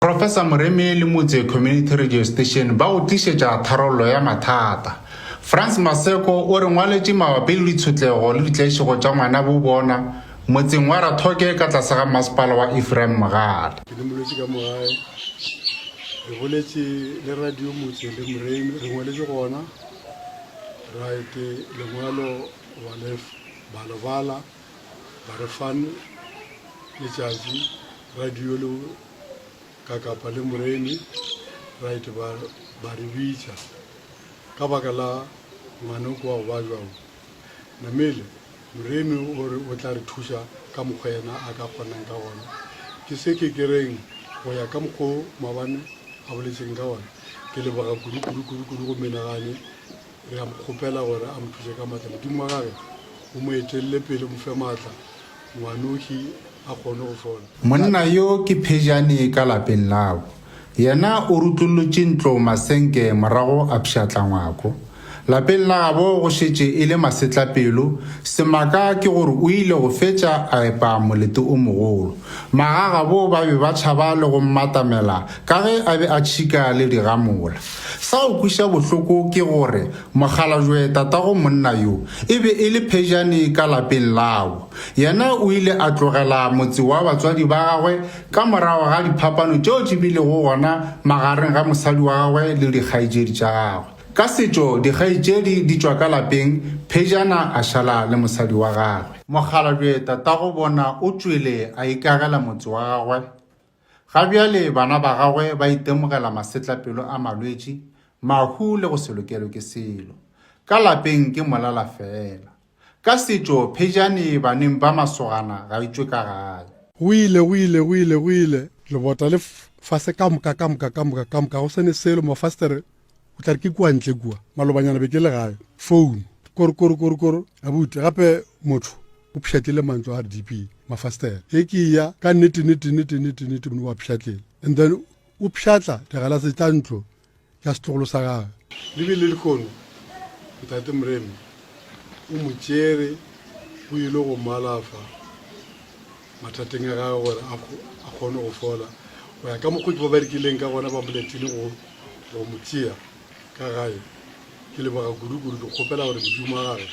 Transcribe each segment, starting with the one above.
Professor Moremi le Motse Community Radio Station ba go tlišetša tharollo ya mathata. Frans Maseko o re ngwaletše mabapi le ditshotlego le ditlaišego tša ngwana bo bona motseng wa Rathoke ka tlase ga Masepala wa Ephraim Mogale. Ke limolotše ka mo gae. Re boletše le Radio Motse le Moremi, re ngwaletše gona right lengwalo ba le ba le bala ba re fan letšatši radio le ka kapa le moremi, right, ba, ba re bitša ka baka la ngwanoko wa go ba bjang. Namile, moremi o re o tla re thuša ka mokgwa yena a ka kgonang ka gona. Ke se ke ke reng, go ya ka mokgwa wo Mabane a boletšeng ka gona, ke leboga kudu, kudu, kudu, kudu go menagane, re a mo kgopela gore a mo thuše ka matla. Modimo wa gage o mo etelele pele, o mo fe matla ngwanoši a kgone go fola. Monna yo ke phejane ka lapeng lao. Yena o rutlollotše ntlo masenke morago a pšhatla ngwako. Lapeng la gabo go šetše e le masetlapelo, semaka ke gore o ile go fetša a epa molete o mogolo. Magagabo ba be ba tšhaba le go mmatamela ka ge a be a tšhika le digamola. Sa go kweša bohloko ke gore Mokgalajwe tatago monna yo e be e le phejane ka lapeng labo. Yena o ile a tlogela motse wa batswadi ba gagwe ka morago ga diphapano tšeo di bilego gona magareng ga mosadi wa gagwe le dikgaetšedi tša gagwe. Ka setšo dikgaetšedi di tšwa ka lapeng phejana a šala le mosadi wa gagwe. Mokgalajwe tatago bona o tšwele a ikagela motse wa gagwe. Ga bjale bana ba gagwe ba itemogela masetlapelo a malwetši, mahu le go se lokelwe ke selo. Ka lapeng ke molala feela. Ka setšo, phejane baneng ba masogana ga e tšwe ka gae. Go ile, go ile, go ile, go ile, lebota le fase ka moka, ka moka, ka moka, ka moka, go se ne selo, mafastere o tla re ke kua ntle kua malobanyana be ke le gae founu korokorokorokoro abuti gape motho o pšhatlile mantlo a rdp mafastela e ke ya ka nnetennetennetennetenete mone wa pšhatlela and then o pšhatla digalase tša ntlo ya setlogolo sa gage le be le lekono ntate moreme o mo tšere o ile go malafa mathateng a gagwe gore a kgone go fola go ya ka mokgwa ke ba ba rekileng ka gona ba moletile go go mo tšea ka gae ke leboga kudu-kudu ke kgopela gore modimo a gagwe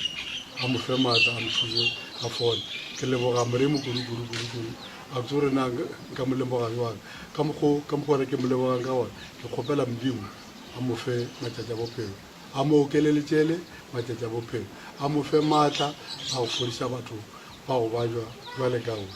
a mo fe maatla a mo thuse a fole ke leboga moremo kudu-kudu-kudu-kudu a botse gore na nka mo leboga jwang ka mokgwa gore ke mo lebogang ka gona ke kgopela modimo a mo fe matšatši a bophelo a mo okele letšele matšatši a bophelo, a mo fe maatla a go fodiša batho ba go bajwa bjale ka ruri.